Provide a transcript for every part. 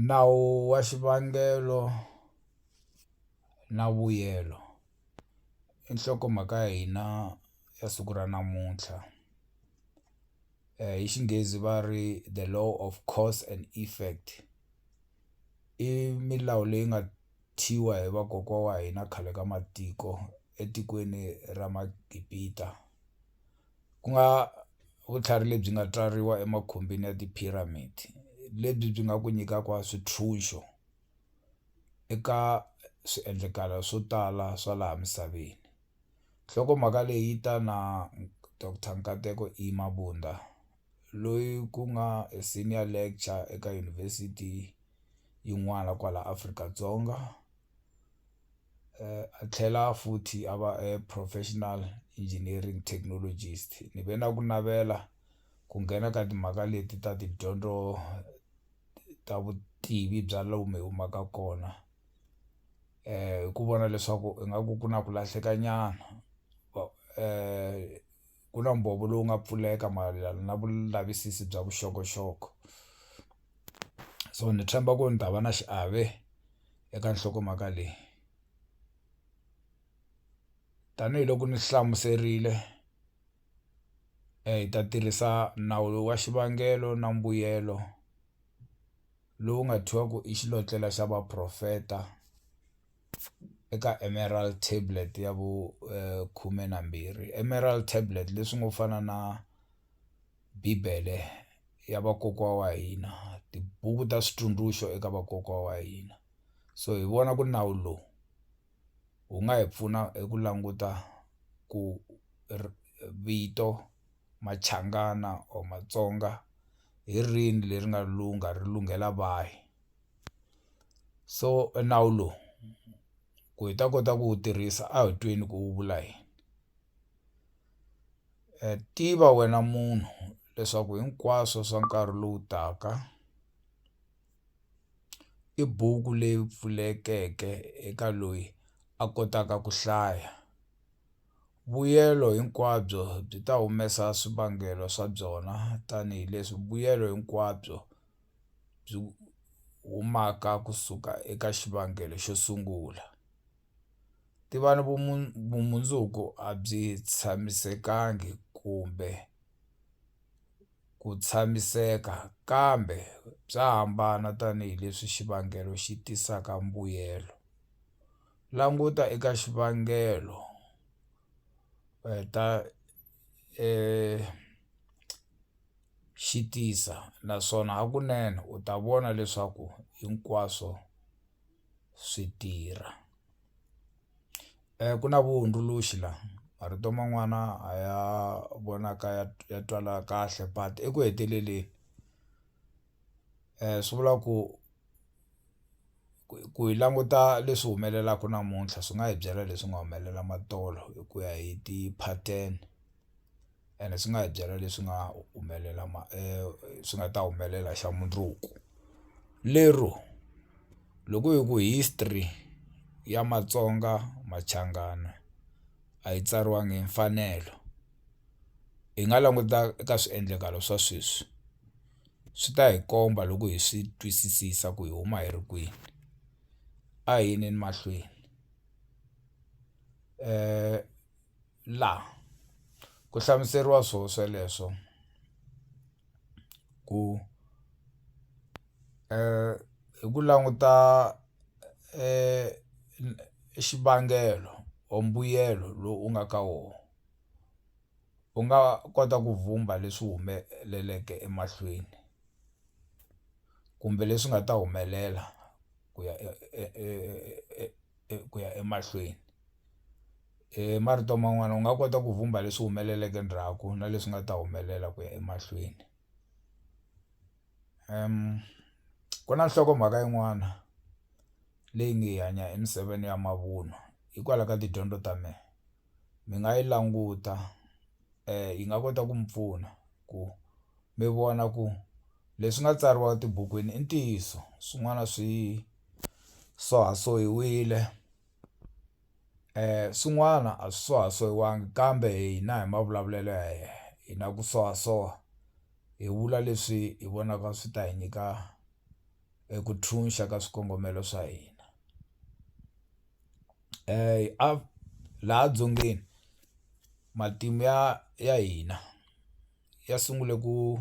Nawu wa xivangelo na vuyelo i nhlokomhaka ya hina ya siku ra namuntlha hi Xinghezi va ri the law of course and effect i milawu leyi nga hi vakokwana wa hina khale ka matiko etikweni ra Magibita. ku nga vutlhari lebyi nga tswariwa emakhumbini ya ti-pyramid lebyi byi nga ku nyikaka swintshuxo eka swiendlakalo swo tala swa laha misaveni nhlokomhaka leyi yi ta na doctor Nkateko E Mabunda loyi ku nga a senior lecture eka yunivhesiti yin'wana kwala Afrika-Dzonga. a tlhela futhi a va a professional engineering technologist ni ve na ku navela ku nghena ka timhaka leti ta tidyondzo ta vutivi bya lomu hi humaka kona hi ku vona leswaku ingaku ku na ku lahleka nyana ku na mbhovo lowu nga pfuleka mayelana na vulavisisi bya vuxokoxoko. so ni tshemba ku ni ta va na xiave eka nhlokomhaka leyi tanihiloko ni hlamuserile hi ta tirhisa nawu lowu wa xivangelo na mbuyelo lowu nga thyiwa ku i xilotlela xa vaprofeta eka Emerald tablet ya vu khume na mbirhi Emerald tablet leswi ngo fana na. Bibele ya vakokwana wa hina tibuku ta switsundzuxo eka vakokwana wa hina so hi vona ku nawu lowu wu nga hi pfuna hi ku languta ku ri vito Machangana or Matsonga hi rini leri nga lungha ri lunghela vahi so nawu lowu ku hi ta kota ku wu tirhisa a hi tweni ku wu vula yini. Tiva wena munhu leswaku hinkwaswo swa nkarhi lowu taka i buku leyi pfulekeke eka loyi a kotaka ku hlaya. Vuyelo hinkwabyo byi ta humesa swivangelo swa byona tanihi leswi vuyelo hinkwabyo byi humaka kusuka eka xivangelo xo sungula. ti va ni vumundzuku a byi tshamisekangi kumbe ku tshamiseka kambe bya hambana tanihileswi xivangelo xi tisaka mbuyelo languta eka xivangelo ta xi tisa naswona hakunene u ta vona leswaku hinkwaswo. swi tirha ku na vuhundzuluxi la marito man'wana a ya vonaka ya ya twala kahle but eku heteleleni swi vula ku ku hi languta leswi humelelaku namuntlha swi nga hi byela leswi nga humelela matolo hi ku ya hi ti-pattern. ene swi nga hi byela leswi nga humelela swi nga ta humelela xa mundzuku lero loko hi ku history ya Matsonga Machangana a yi tsariwangi hi mfanelo hi nga languta eka swiendlakalo swa sweswi swi ta hi komba loko hi swi twisisisa ku hi huma hi ri kwini a hi yeni mahlweni . la ku hlamuseriwa swo sweleswo ku hi ku languta xivangelo or mbuyelo lowu u nga ka wo u nga kota ku vhumba leswi humeleleke emahlweni kumbe leswi nga ta humelela ku ya . ku ya emahlweni hi marito man'wani u nga kota ku vhumba leswi humeleleke ndzhaku na leswi nga ta humelela ku ya emahlweni ku na nhlokomhaka yin'wana leyi nge hanya emisaveni ya mavunwa hikwalaho ka tidyondzo ta me. mi nga yi languta yi nga kota ku mi pfuna ku mi vona ku leswi nga tsariwa etibukwini i ntiyiso swin'wana swi sohasohiwile swin'wana a swi sohasohawangi kambe hina hi mavulavulelo ya hina hi na ku sohasoha hi vula leswi hi vonaka swi ta hi nyika eku ntshunxa ka swikongomelo swa hina. laha dzongeni matimu ya ya hina ya sungule ku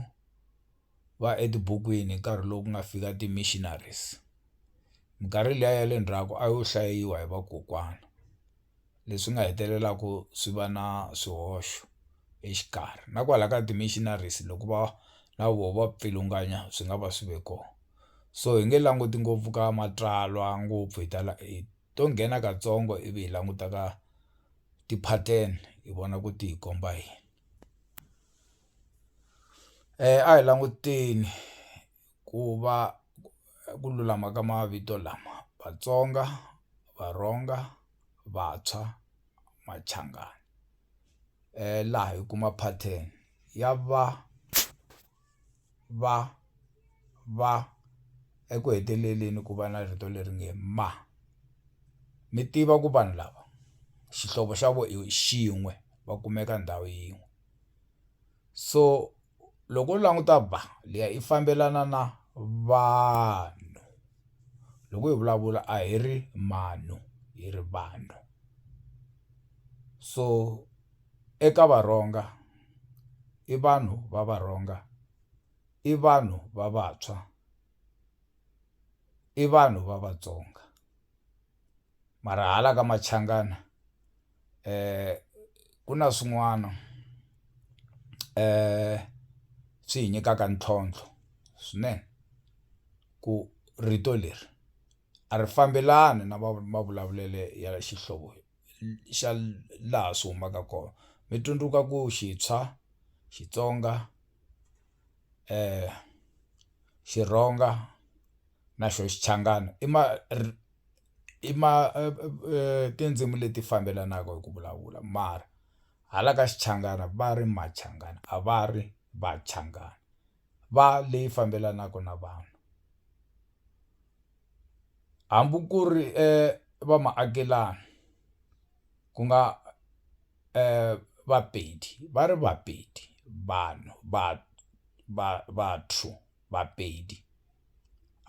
va etibukwini hi nkarhi lowu ku nga fika ti-missionaries minkarhi liya ya le ndzhaku a yo hlayiwa hi vakokwana leswi nga hetelelaka swi va na swihoxo exikarhi na kwala ka ti-missionaries loko va na voho va pfilunganya swi nga va swi ve kona. so hi nge languti ngopfu ka matsalwa ngopfu hi tala hi to nghena katsongo ivi hi languta ka ti-pattern hi vona ku ti hi komba yini a hi languteni ku va ku lulama ka mavito lama Vatsonga Varhonga Vantshwa Machangani laha hi kuma pattern ya va. va va eku heteleleni ku va na rito leri nge ma ni tiva ku vanhu lava xihlovo xa vona i xin'we va kumeka ndhawu yin'we so loko u languta ba liya i fambelana na vanhu loko hi vulavula a hi ri mano hi ri vanhu so. Eka varhonga, i vanhu va varhonga, i vanhu va vantshwa, i vanhu va vatsonga. Mara hala ka Machangana ku na swin'wana swi hi nyikaka ntlhontlho swinene ku rito leri a ri fambelani na mavulavulelo ya xihlovo. xa laha swi humaka kona mi tsundzuka ku xitshwa Xitsonga Xirhonga na xona Xichangani i ma i ma tindzimi leti fambelanaka hi ku vulavula mara hala ka Xichangana va ri Machangani a va ri Vachangani. va leyi fambelanaka na vanhu hambi ku ri va maakelani ku nga Vapedi va ri Vapedi vanhu va va va two Vapedi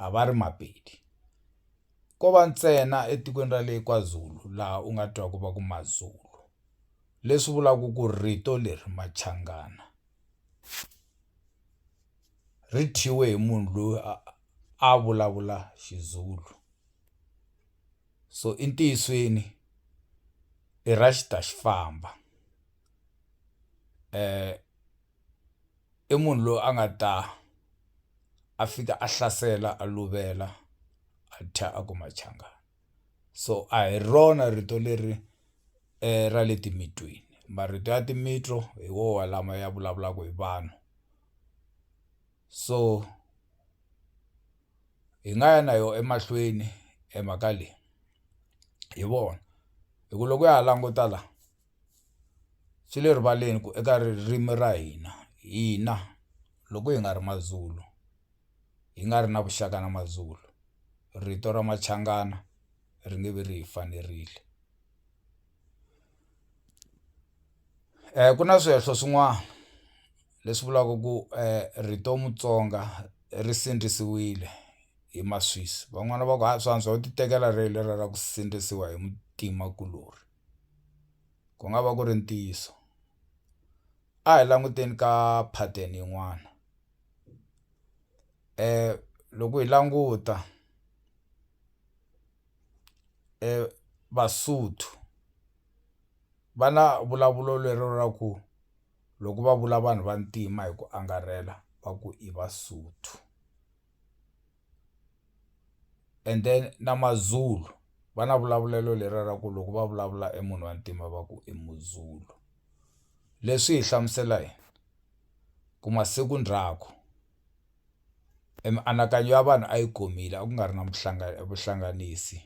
a va ri Mapedi ko va ntsena etikweni ra le KwaZulu laha u nga twa ku va ku Mazulu leswi vulaka ku rito leri Machangana. ri thyiwe hi munhu loyi a a vulavula Xizulu so i ntiyisweni i ra xi ta xi famba i munhu loyi a nga ta a fika a hlasela a luvela a thya a ku Machangani. so a hi rona rito leri ra le timitweni marito ya timitsu hi woho lama ya vulavulaka hi vanhu so hi nga ya na yo emahlweni e mhaka leyi hi vona hi ku loko ya ha languta la swi le rivaleni ku eka ririmi ra hina hina loko hi nga ri Mazulu hi nga ri na vuxaka na MaZulu, rito ra Machangana ri nge vi ri hi fanerile. Ku na swihehlo swin'wana leswi vulaka ku rito Mutsonga ri sindzisiwile hi Maswisi van'wani va ku ha swa antswa u ti tekela rero lera ra ku sindzisiwa hi muntima kulorhi ku nga va ku ri ntiyiso a hi languteni ka pattern yin'wana. loko hi languta Vasotho va na vulavulo lero ra ku loko va vula vanhu vantima hi ku angarhela va ku i Vasotho. and then na Mazulu va na vulavulelo leriya ra ku loko va vulavula e munhu wa ntima va ku i Muzulu leswi hi hlamusela yini ku masiku ndzhaku e mianakanyo ya vanhu a yi gomile a ku nga ri na vuhlanganisi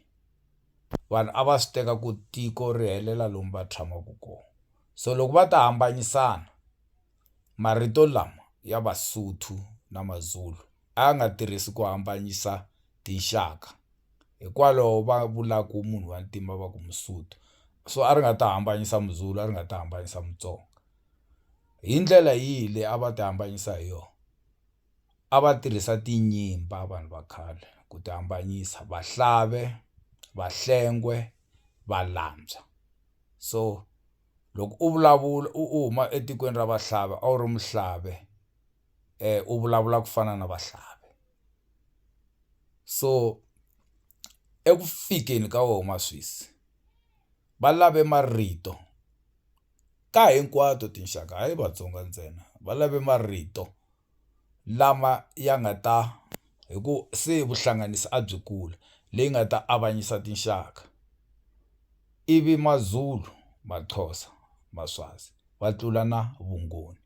vanhu a va swi teka ku tiko ri helela lomu va tshamaka kona so loko va ta hambanyisana marito lama ya Vasotho na Mazulu. a a nga tirhisi ku hambanyisa tinxaka hikwalaho va vulaku munhu wa ntima va ku Musotho so a ri nga ta hambanyisa Muzulu a ri nga ta hambanyisa Mutsonga hi ndlela yihi leyi a va ti hambanyisa hi yona a va tirhisa tinyimba vanhu va khale ku ti hambanyisa vahlave, vahlengwe, valantswa so loko u vulavula u huma etikweni ra vahlave a wu ri muhlave eh u vulavula ku fana na vahlavi so eku fikeni ka wona maswisi va lave marito ka hinkwato tinxaka hayi Vatsonga ntsena va lave marito lama ya nga ta hi ku se vuhlanganisi a byi kula leyi nga ta avanyisa tinxaka ivi Mazulu, Maxhosa, Maswazi va tlula na vuNgoni.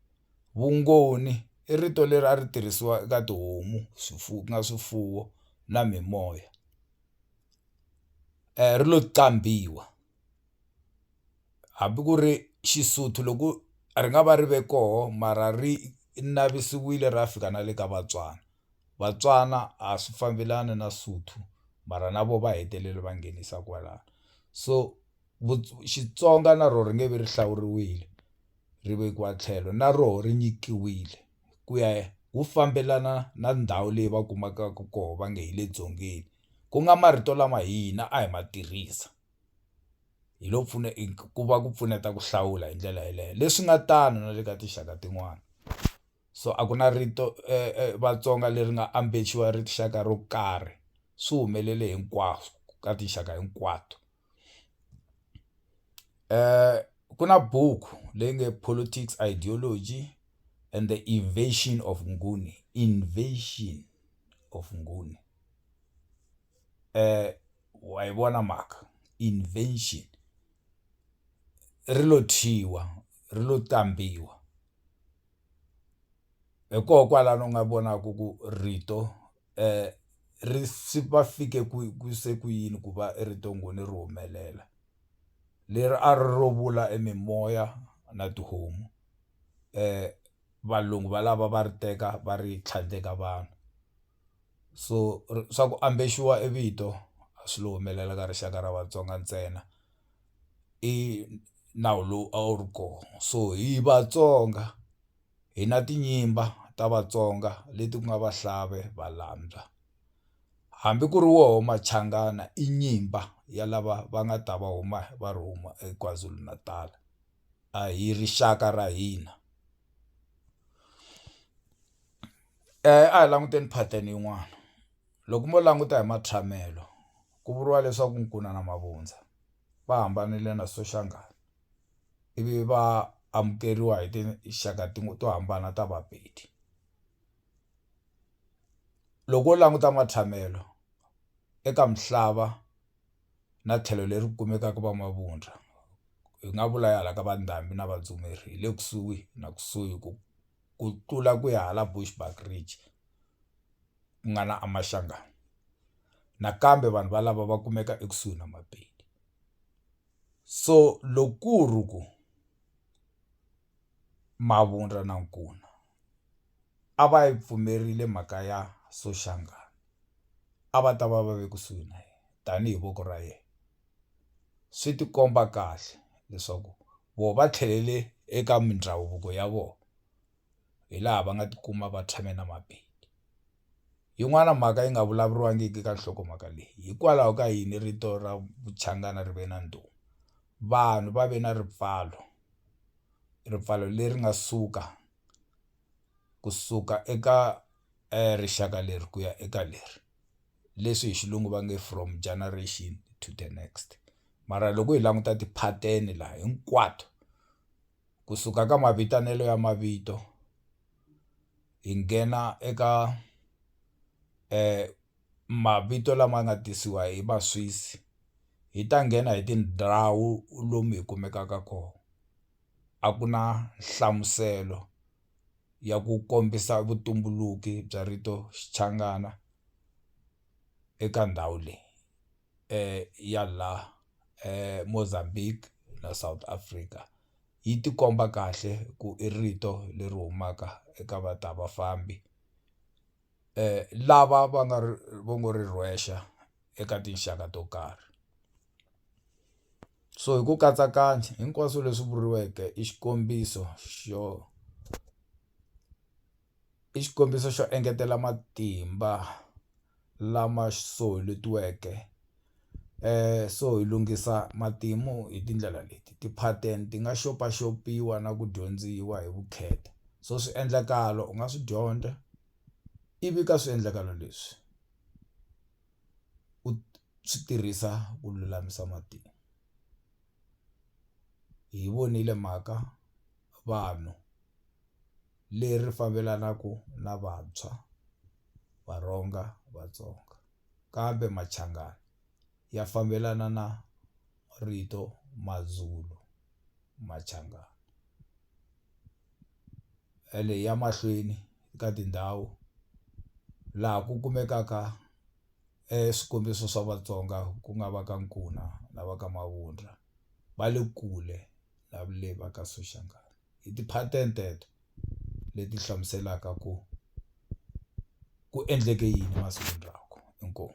Vungoni i rito leri a ri tirhisiwa eka tihomu swifuwo ku nga swifuwo na mimoya ri lo qambhiwa hambi ku ri Xisotho loko ri nga va ri ve koho mara ri navisiwile ra fika na le ka Vatswana Vatswana a swi fambelani na Sotho mara na vona va hetelele va nghenisa kwalano so Xitsonga na rona ri nge vi ri hlawuriwile. ri vekiwa tlhelo na roho ri nyikiwile ku ya wu fambelana na ndhawu leyi va kumakaka koho va nge hi le dzongeni ku nga marito lama hina a hi ma tirhisa hi lo pfuna ku va ku pfuneta ku hlawula hi ndlela yeleyo leswi nga tano na le ka tinxaka tin'wana so a ku na rito Vatsonga leri nga ambexiwa rixaka ro karhi swi humelele hinkwaswo ka tinxaka hinkwato. ku na buku leyi nge politics ideology and the invasion of Nguni invasion of Nguni wa yi vona mhaka invasion ri lo thyiwa ri lo tambiwa hi koho kwalano u nga vonaka ku rito. ri swi va fike ku ku se ku yini ku va ri to nghoni ri humelela leri a ri ro vula e mimoya na tihomu valungu valava va ri teka va ri tlhandleka vanhu so swa ku ambexiwa e vito a swi lo humelela ka rixaka ra Vatsonga ntsena i nawu lowu a wu ri kona so hi Vatsonga. hi na tinyimba ta Vatsonga leti ku nga Vahlave, Valambya hambi ku ri woho Machangana i nyimba ya lava va nga ta va huma va ri huma eKwaZulu-Natal a hi rixaka ra hina a hi languteni pattern yin'wana loko mo languta hi matshamelo ku vuriwa leswaku nkuna na mavundza va hambanile na Soshangana. ivi va amukeriwa hi tinxaka to hambana ta Vapedi loko wo languta matshamelo eka misava na tlhelo leri kumekaka va Mavundza hi nga vula ya hala ka va Ndhambi na Vadzumeri hi le kusuhi na kusuhi ku ku tlula ku ya hala Bushbuckridge ku nga na Mashangani nakambe vanhu valava va kumeka ekusuhi na Mapedi. So loko ku ri ku Mavundla na Nkuna a va yi pfumerile mhaka ya Soshangana a va ta va va ve kusuhi na yena tanihi voko ra yena swi ti komba kahle leswaku vona va tlhelele eka mindhavuko ya vona hi laha va nga tikuma va tshame na Mapedi. yin'wana mhaka yi nga vulavuriwangiki ka nhlokomhaka leyi hikwalaho ka yini rito ra vuchangana ri ve na ndhuma vanhu va ve na ripfalo ripfalo leri nga suka kusuka eka rixaka leri ku ya eka leri leswi hi xilungu va nge from generation to the next mara loko hi languta ti-pattern laha hinkwato. kusuka ka mavitanelo ya mavito hi nghena eka mavito lama nga tisiwa hi va Swiss hi ta nghena hi tindhawu lomu hi kumekaka kona a ku na nhlamuselo ya ku kombisa vutumbuluki bya rito Xichangana eka ndhawu leyi. ya laha Mozambique na South Africa yi tikomba kahle ku i rito leri humaka eka va ta vafambi lava va nga ri va ngo ri rhwexa eka tinxaka to karhi so hi ku katsakanya hinkwaswo leswi vuriweke i xikombiso xo. i xikombiso xo engetela matimba lama so hetiweke so hi lunghisa matimu hi tindlela leti ti-pattern ti nga xopaxopiwa na ku dyondziwa hi vukheta so swiendlakalo u nga swi dyondza ivi ka swiendlakalo leswi u swi tirhisa ku lulamisa matimu hi vonile mhaka vanhu. leri fambelanaka na Vantshwa, Varhonga, Vatsonga, kambe Machangana ya fambelana na rito Mazulu, Machangana. Ene ya mahlweni ka tindhawu laha ku kumekaka swikombiso swa Vatsonga ku nga va ka Nkuna na va ka Mavundla va le kule na le va ka Soshangana. hi ti-pattern teto leti hlamuselaka ku ku endleke yini masikwini lawa inkomu.